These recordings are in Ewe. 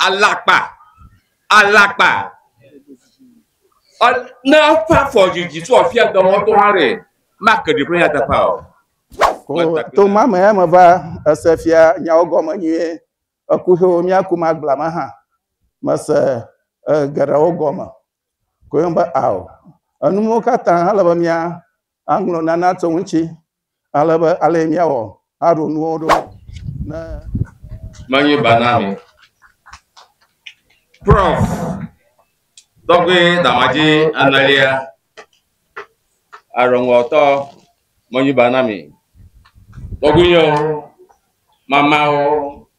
Alakpa, alakpa, ne eƒe afɔ dzi dzi so afia dɔ wɔm to hã ɖe make ɖi ƒe nyateƒe o. To ma me ya me va ese fia nyawo gɔme nyuie. Eku xewo míaku ma gbla ma hã mese geɖewo gɔme koe be ao. Enuwo katã hele be mía Aŋlɔ nana tso ŋuti ale be alee míawɔ aɖo nuwo ɖo ne. Menye ba na mi. Prof. Tɔgbe Damadzi enelia, aɖɔŋlɔtɔ, menye ba na mi. Tɔgbuinyɔwo, mamawo.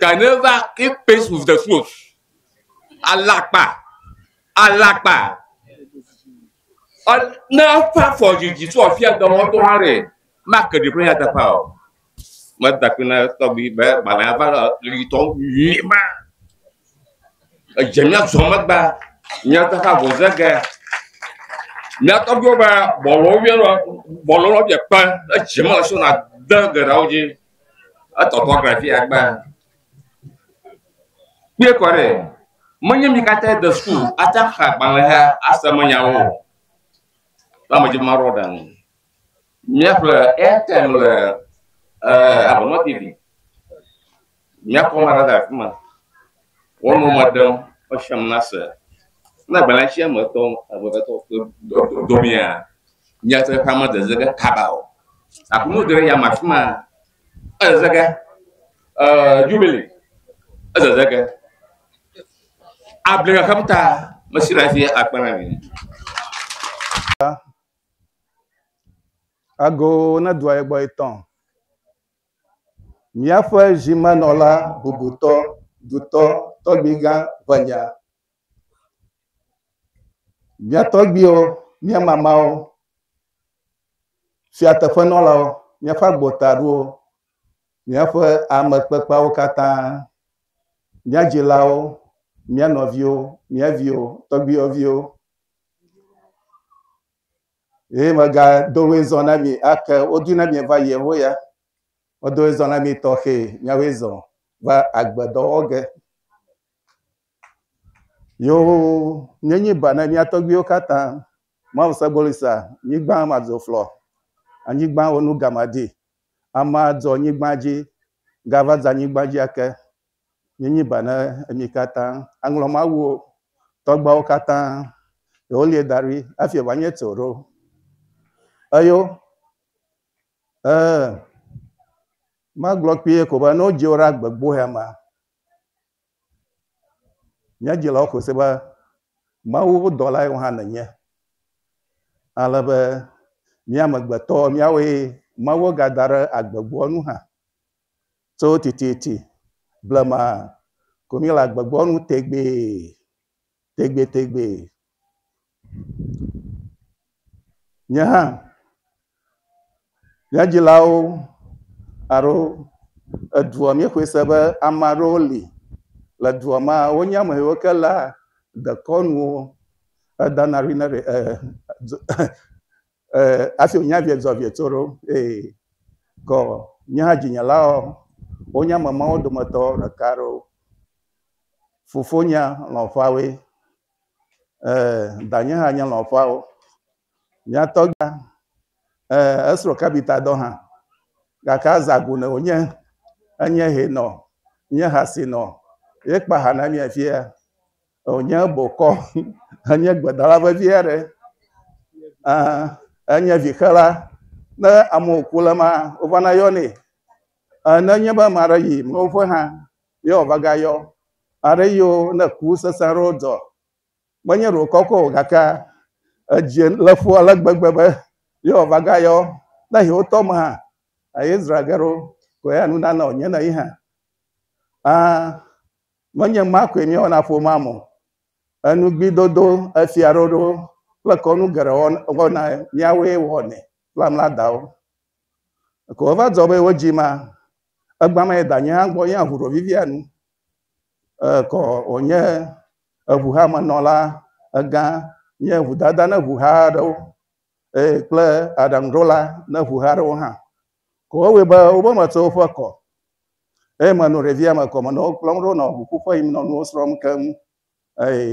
Canova keep pace with the flow. Alakpa. Alakpa. Ne eƒe afɔ dzidzi tso afia dɔwɔtɔ hã ɖe make ɖe ƒe yataƒa o. Meda kple na tɔgbi be gbalẽ ava le ɣitɔ nyuie ma. Edze mía zɔ megbe, mía teƒe avɔ ze ge. Mía tɔgbuiwo be bɔlɔ wo yɔna bɔlɔ lɔ bia kpe ɖe dzi me so na de geɖewo dzi. Etɔtɔ gbe fi ya gbe. Kpɔe kɔ ɖe. Menye mi katã de sukulu ate xa agbalẽ he ase me nyawo o. Ba me dzi marɔ ɖe nu. Mía ƒle Airtel le eh, Abonɔ TV. Míakpɔ ame aɖe le afi ma. Wonɔ mɔ ɖem be xexeame nase. Ne agbalẽ sia me tɔ ame eve tɔ kple dɔmea, míate ƒe ame dede ge kaba o. Aku nu dere yame afi ma. Edede ge. Ee, jubili. Edede ge. Able xexem ta mesi le afi akpe na mi. Ago ne dua ye gbɔ etɔn. Míaƒe zimenɔla bubutɔ, dutɔ, tɔgbuigã ʋenya. Mía tɔgbuiwo, mía mamawo, fiateƒenɔlawo, míaƒe agbotaɖowo, míaƒe ame kpekpeawo katã, mía dzilawo, mía nɔviwo, mía viwo, tɔgbuiyɔviwo, Eye megado ɣli zɔ na mi ake wodu na mi va yewo ya. Medo ɣli zɔ na mi tɔxɛ nyawoe zɔ va agbe dɔ wɔ ge. Yewo nye nyi ba na mia tɔgbiwo katã. Mawu se gboli sa nyigba ma dzo flɔ. Anyigba wo nu gama di. Ama dzɔ nyigba dzi gava dza nyigba dzi ake. Míenyi ba na mi katã. Aŋlɔ Mawuwo tɔgbuawo katã, ye wolie da ɖi hafi ye wòanye tso ɖo. Eyo, ɛɛ, magblɔ kpuie ko be ne wodzi wò ɖe agbegboea mea, mía dzilawo xɔe se be Mawu ƒe dɔlae wò hã nènye. Ale be mía amegbetɔ, míawoe Mawu gada ɖe agbegboa nu hã. Tso tititi blema ko míele agbegbe nu tegbee, tegbetegbee. Nye hã, nye dzilawo alo edua míexɔe se be ame aɖewo li le dua me wonye ame yiwo ke léa dekɔnuwo edana ɖi na ɖe e e e Ee, hafi wònya vie zɔ vie tso ɖo. Ee, kɔ nye hã dzinyelaɔ, wonye ame mawo dometɔ ɖeka ɖo. Fofonya lɔ̃fawoe. Ee, danye hã nye lɔ̃fawo. Mía tɔgbia, ee, esrɔ̃ kabita dɔ hã. Gake azã go ne wònye enye hɛnɔ, nye ha sinɔ ye kpa ha na mí afia. Wònye bokɔ henye gbedala vevi aɖe. Ɛɛ enye vixela. Ne ame wòku le maa, wovana yɔnɛ. Ɛɛ ne enye be ame aɖe yi mlɔwo ƒe hã ye wòava gayɔ. Aɖe yio ne ku sesẽ aɖewo dzɔ, menye ɖe wòkɔ kɔ o gakea, edzi le ƒo ale gbegbe be ye wòava gayɔ. Ne yi wotɔ me hã, eyezra ge ɖo ko ya nu nana wònye na yi hã. Ãa. Menye ma koe míewɔ na ƒomea me o. Enugbidodo, efiaɖoɖo kple kɔnu geɖe wɔna míawoe wɔnɛ kple mía dawo. Eko wova dzɔ be wodzi ma, egbã me yi danye hã gbɔ yí aʋu ɖo vivia nu. Ekɔ wònye eŋuhamenɔla, egã, nye ŋudada ne ŋuha aɖewo eye kple aɖaŋuɖola ne ŋuha aɖewo hã. Ko wowɔe be wobe metso woƒe akɔ eye menɔ ɖevia me kɔ menɔ wo kplɔm ɖo nɔ ʋuƒu ƒe yim nɔ nuwo srɔ̃m keŋ eye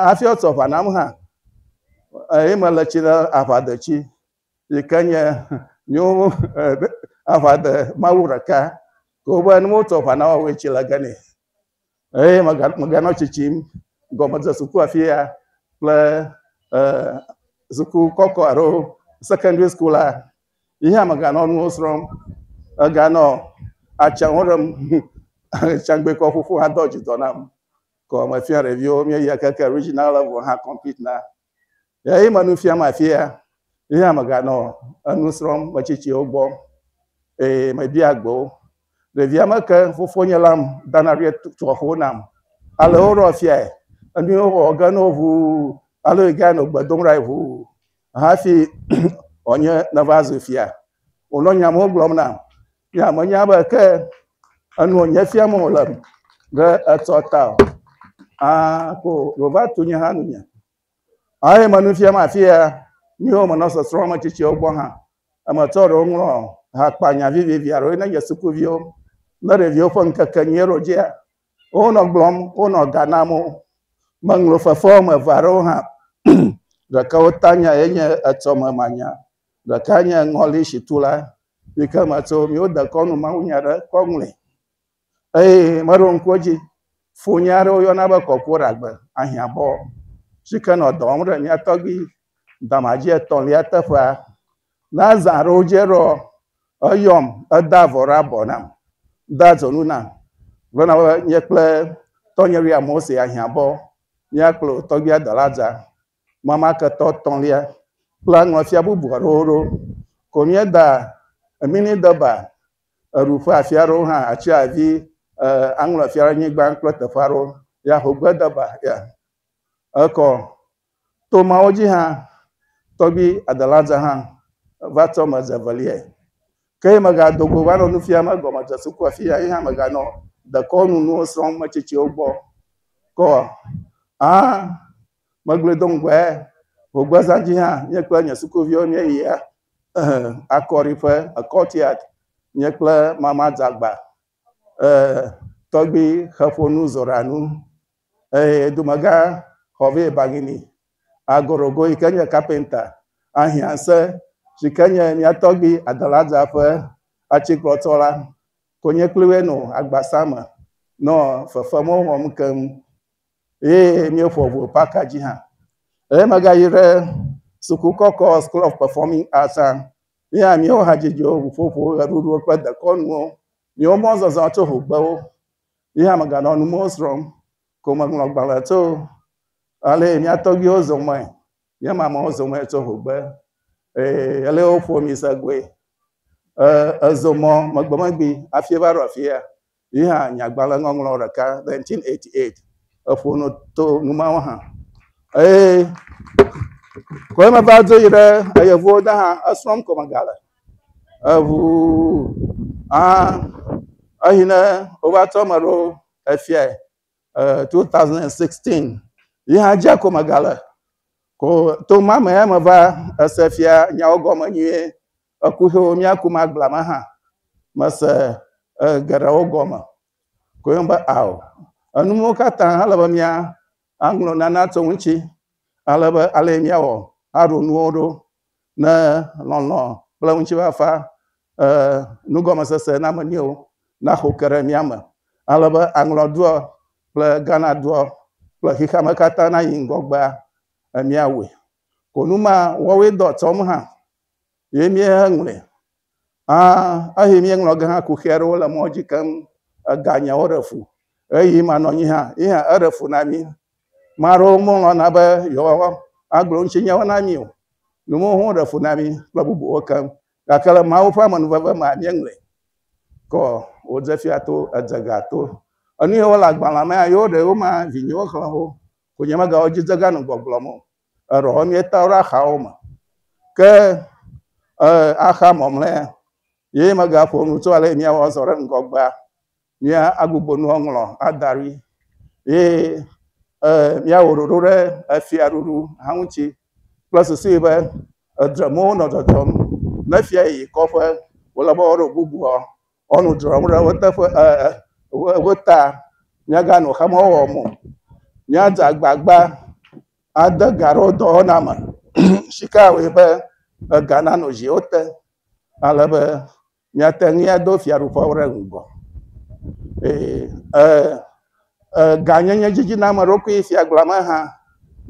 hafi wotsɔ aʋa nam hã eye mele tsi ɖe aʋadetsi yi ke nye nyewo aʋade mawu ɖeka ko be ne wotsɔ aʋa na woawoe tsi le ge nɛ. Eye meganɔ tsitsim gɔme dze suku afia kple suku kɔkɔ alo secondary school la, yi hã meganɔ nuwo srɔ̃m. Meganɔ atsɛ̃wo ɖem. Tsagbɛ kɔ ƒoƒu hã dɔ dzi dɔ nam. Kɔ mefia ɖeviwo míeyia keke regional level hã complete na. Eye me nu fiam afia, ye hã meganɔ enu srɔ̃m metsitsiwo gbɔ, eye mebia gbe wo. Ɖevia me ke fofonye lam dana ɖe tuaxo nam. Ale woɖɔ fiae, enui wowɔ ge no ʋuu, ale wògae nɔ gbe dom ɖae ʋuu hafi wònye neva zu fia. Wònɔ nya mawo gblɔm nam. Ya menya be ke enu wònye fia me wòle be etsɔ ta o. Ah, ko wòva tu nye hã nunye. Eye me nu fiam afi ya, míwo menɔ sɔsrɔ̃ ame tsitsiwo gbɔ hã. Eme tsɔ ɖewo ŋlɔ hakpanya vivivi aɖewo yi ne nye sukuviwo ne ɖeviwo ƒe ŋkekenyui eɖo dzia. Wonɔ gblɔm, wonɔ ga nam wo. Meŋlɔ fefe wɔme eve aɖewo hã. Ɖeka wo tanya ye nye etsɔ me manya. Ɖeka nye ŋɔli si tu la yi ke me tso míwo dekɔnu mawunya ɖe kɔ ŋlɔe eye meɖo ŋku edzi funye aɖewo yɔna be kɔkɔ ɖagbe ahiãbɔ si ke nɔ dɔ wɔm ɖe mía tɔgbi damadzie etɔ̃lia teƒea. Ne azã aɖewo dze ɖɔ eyɔm edea avɔ ɖe abɔ nam, dea dzonu nam gblɔna be nye kple tɔnye William Mose ahiãbɔ míakplɔ tɔgbia dɔ la dza. Mamaketɔ tɔ̃lia kpla ŋɔfia bubu aɖewo ɖo. Ko míeda emini deba eɖu ƒe afi aɖewo hã atsi avi e aŋlɔ fia anyigba kple teƒe aɖewo ya hogbe deba ya. Ekɔ to mawo dzi hã tɔgbi Adelaja hã va tsɔ me ze veliae. Ke ye megado go va nɔ nu fiam egɔmedze sukua fi ya ye hã meganɔ dekɔnu nuwo srɔ̃m metsitsiwo gbɔ kɔ a. Megblɔe do ŋgɔe vogbezã dzi hã, nye kple nye sukuviwo míeyi akɔɖiƒe, courtyard, nye kple Mama Dzagba, tɔgbui Xeƒonu Zoranu, dumegã Xɔvi Ebagini, Agorogo yi ke nye kapenta, Ahiãse si ke nye mía tɔgbui Adelaja ƒe atikplɔtɔ la, konye kpli woe nɔ agbasa me nɔ fefemɔ wɔm keŋ eye míeƒo ŋu paka dzi hã. Eye mega yi ɖe suku kɔkɔ School of Performing Arts hã. Míe hã míewo ha dzidzo, ŋuƒoƒo, ʋeɖuɖu kple dekɔnuwo. Míewo mɔ zɔzɔ tso ŋu gbe wo. Ye hã mega nɔ numewo srɔm ko me ŋlɔ gbalẽ tso ale yi mía tɔgbuiwo zɔ mɔe. Míe ma amewo zɔ mɔ tso ŋu gbe eye ale woƒo mi se goe. E, ezo mɔ megbe megbe hafi va ɖo afia. Yi hã nyagbalẽŋɔŋlɔ ɖeka, 1988, eƒo nu to nu mawo hã. Eye koe meva do yi ɖe eyevuwo de hã esrɔ̃m ko megale. Eŋu hã eyi ne wova trɔ me ɖo efiae 2016 yi hã dze ko megale. Ko to ma me ya meva ese fia nyawo gɔme nyuie Eku xe wo mía kum agblea me hã. Mese e geɖewo gɔme. Koe nye be ao. Enu mɔwo katã ele be mía aŋlɔ nana tso ŋuti ale be ale mía wɔ aɖo nuwo ɖo ne lɔlɔ kple ŋutifafa e nugɔmesese na me niwo naxo ke ɖe mía me ale be aŋlɔ doɔ kple Ghana doɔ kple xexea me katã nayi ŋgɔgbea e mía woe. Konu ma wɔwoe dɔ tsɔm hã. ye míeŋlɔe. Ã, eye míeŋlɔ ge hã kuxi aɖewo le mɔa dzi keŋ. Eganyawo ɖe fu. Ɣeyiɣi ma nɔnyi hã, yi hã eɖe fu na mí. Ame aɖewo melɔ̃na be yewoagblɔ ŋutinyawo na mí o. Nu mawo hã ɖe fu na mí kple bubuwo keŋ. Gake le Mawu ƒe amenuveve mea, míeŋlɔe kɔ wòdze fia to, edze ga to. Enu yiwo le agbalẽa mea, yewo ɖewo ma, vinyewo xlẽ wo. Ko nyemega wo dzi dze ga nu gbɔgblɔm o. eɖɔ wo míetɔ ɖe axawo me. Ke axa mɔmlɔea, ye megaƒo nu tso ale míawɔ azɔ ɖe ŋgɔgbea, mía agbugbɔ nu aŋlɔ ada ɖi ye míawɔ ɖoɖo ɖe efia ɖuɖu hã ŋuti kple susu be edremwo nɔ dzɔdzɔm ne fia yi kɔƒe wòle be woɖo bubuɔ, Ɔnu dzrɔm ɖe wo teƒe ɛɛ wo ta. Míaganɔ xe mɔ wɔwɔ me o. Míadze agbagba ade ga ɖe wo dɔwɔna me si ke awɔe be ega nanɔ dziwo te ale be míate ŋui ado Fiaɖuƒe ɖe ŋgɔ. Eye ɛɛ eganyenyedzidzimeɖokui fiagblɔa me hã,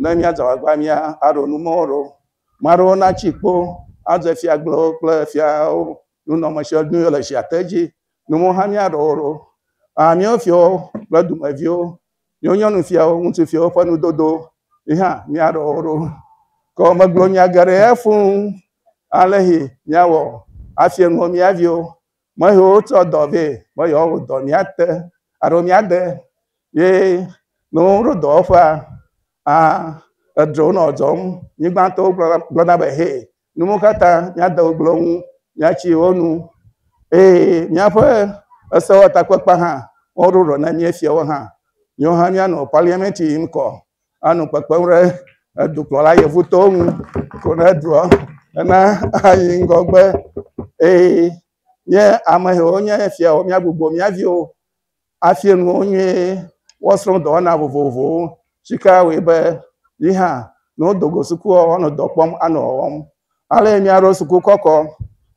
ne míadze agbagba mía aɖo numɔwo ɖewo. Maa ɖewo natsi kpo adze fiagblɔwo kple fiawo nunɔme sia nu yɔ le sia te dzi. Nu mɔ hã míaɖɔ wo ɖo. Aa míawo fiawo kple dumeviwo, míawo nyɔnu fiawo, ŋutsu fiawo ƒe nudodo yi hã míaɖɔ wo ɖo. Ke wo megblɔ nya geɖe ya fũ ale si míawɔ afia nuwo mía viwo. Me siwo tsɔ dɔ vɛ be yewoawɔ dɔ míate alo míade ye ne woɖo dɔwɔƒea aa edrona dzɔm. Nyigbatɔwo gblɔna gblɔna be hɛ Nuwo katã míade ŋugble wo ŋu, míatsi wo nu eye míaƒe esewɔtakpekpe hã woɖo ɖɔ na mía fiawo hã. Míawo hã míanɔ paliamɛnti yim kɔ anɔ kpekpem ɖe edukplɔla yevutɔwo ŋu ko ne dua ena ayi ŋgɔgbe eye nye ame yiwo nye fiawo míagbugbɔ mía viwo afia nu wo nyuie, woasrɔ̃ dɔwɔna vovovowo, si ke awɔe be yi hã ne wodo go sukua, woanɔ dɔ kpɔm anɔ wɔwɔm. Ale míaɖo suku kɔkɔ.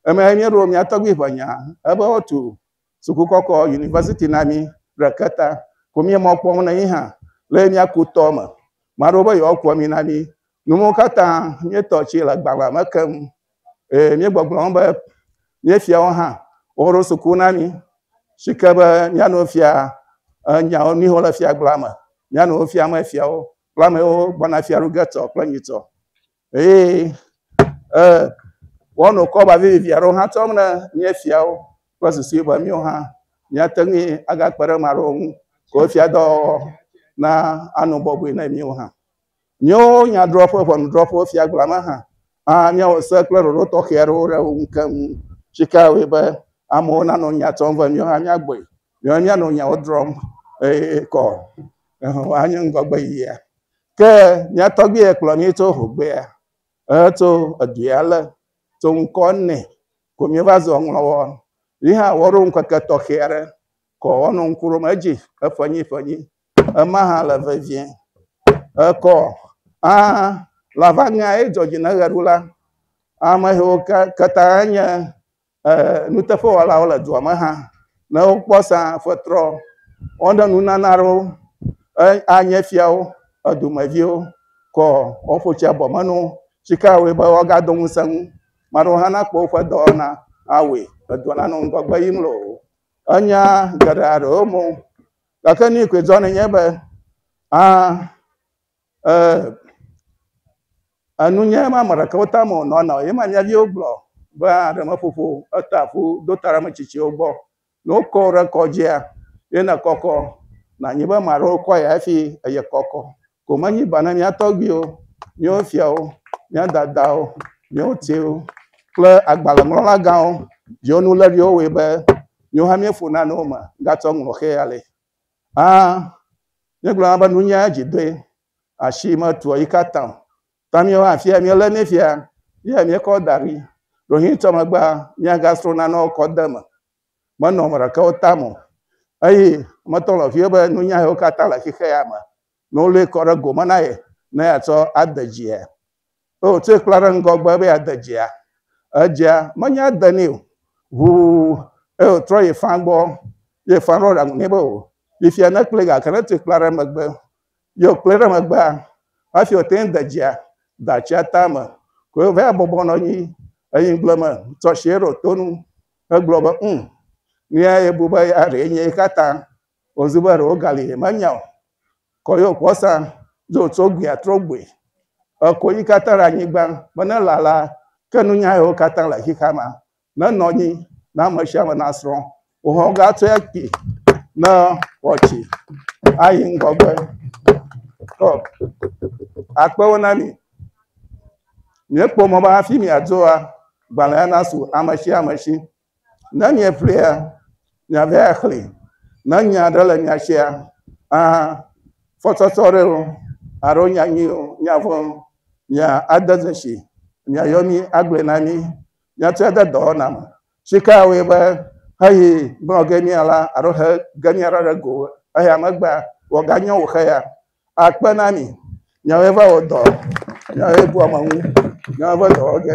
Emee míeɖo mía tɔgbui ƒe nya ebe woatu suku kɔkɔ, yunivɛsiti na mí ɖeke ta ko míemɔ kpɔm na yi hã le míaku tɔ me. Maɖewo be yewoakua ami na mí, Nu mawo katã míetɔ tsi le agbalẽa me keŋ, eye míegbɔgblɔm be míefiawo hã woɖo suku na mí si ke be míanɔ efia nyawo nu yiwo le fiagblẽa me, míanɔ wo fiam efiawo kple ame yiwo gbɔna fia ɖu ge tɔ kple nyuitɔ. Eye e woanɔ kɔba vivivi aɖewo hã tsɔm ne míefiawo kple susu be míwo hã míate ŋui agakpe ɖe ame aɖewo ŋu ke wo fiadɔwɔwɔ na anɔ bɔbɔe na míwo hã. Míawo nyadrɔ̃ƒe ʋɔnudrɔ̃ƒewo fiagblɔa me hã ah, míawɔ se kple ɖoɖo tɔxɛ aɖewo ɖe wo ŋu keŋ. Tsika wòe be amewo nanɔ nya tsɔm vɛ, míawo hã míagbɔe, míawo míanɔ nyawo drɔ̃m eye kɔ Yehowa anye ŋgɔgbe yiyia. Ke mía tɔgbui ye kplɔ mí tso hogbea, eto edui ale, to ŋkɔ nɛ ko míeva zu ŋlɔwɔ. Yi hã woɖo ŋkeke tɔxɛ aɖe kɔ wonɔ ŋku ɖom edzi eƒenyiƒenyi Ema hã le vevie. Ekɔ hã le abe alea ye dzɔ dzi ne ʋeɖula. Ame yiwo ke katã nye e nuteƒewɔlawo le dua me hã ne wokpɔ sa fetrɔ woaɖe nunana aɖewo e anye fiawo, edumeviwo kɔ woƒo tsi abɔ me na wo. Si ke awɔe be woagado ŋusẽ ŋu. Ame aɖewo hã nakpɔ woƒe dɔwɔna awɔe edua nanɔ ŋgɔgbe yim loo. Enya geɖe aɖewo me. Gake nu yi koe dzɔ nenye be a e enu nye ma ame ɖeka wota me wònɔ na o. Ye ma mía viwo gblɔ be aɖemeƒoƒo eta ƒu do ta ɖe ame tsitsiwo gbɔ. Ne wokɔ wò ɖe kɔdzia, ye nèkɔkɔ nànyi be ame aɖewo kɔ ye hafi eye kɔkɔ. ko menye ba na mía tɔgbuiwo, míawo fiawo, mía dadawo, míawo tɛwo kple agbalẽŋlɔla gãwo viwo nu léɖi wo wɔe be míwo hã míeƒo nane wo me gatsɔ ŋlɔ xe ale. Hã míegblɔna be nunya dzi doe, asi metua yi katã o. Ta míawo hã fia míelé nɛ fia ye míekɔ da ɖi. Ɖewohĩ tsɔ megbea míagasrɔ̃ nanewo kɔ de eme. menɔ ame ɖeka wo tame o. Eye metɔ le vie be nunya yewo katã le xixe ya me, ne wolui kɔ ɖe gome na ye ne yeatsɔ ade dzia. Eye wotsɔe kpla ɖe ŋgɔgbe be yeade dzia. Edzia menya de nɛ o. Ʋuu eye wotrɔ yi fã gbɔ. Ye fã ɖo ɖaŋu nɛ be o, fifia ne kpli gake ne tui kpla ɖe megbe. Ye wokplii ɖe megbea, hafi wote ŋu de dzia, de atsia tame. Koe wova bɔbɔ nɔ anyi enyigble me tsɔ ashi ɖo to nu. Egblɔ be, Ũ, nuya yebu be ya ɖee nye eka ta wòzu be ɖewo gali yemenya o. Kɔ yewo kpɔ sa, dzo tso gbea trɔ gbɔe. Èko yi katã ɖe anyigba be ne lala, ke nunya yewo katã le xexeamea nenɔ anyi ne ame sia ame nasrɔ̃ wo hã wogatsɔe akpi ne wòatsi ayi ŋgɔgbe. Ɔ, akpewo na mi. Miekpɔ mɔ be hafi miadzoa, Gbalẽa nasu ame sia ame si. Ne mieƒlea, miava axlẽe. Ne nya aɖe le mia sia, a fɔsɔsɔ ɖe o, alo nya nyui o, nya vɔ̃ o, mia ade dzesi, miayɔ mí agblɔe na mí, míatrɔe de dɔwɔna me. Tsikea wɔe be heyi gblɔ ge mía la, alo he ge mía la ɖe go eya megbea, wòaganye wòxe ya, Akpe na mi. Nyae va wɔ dɔ. Nyae bua Mawu. Nyae va dɔ wɔ ge.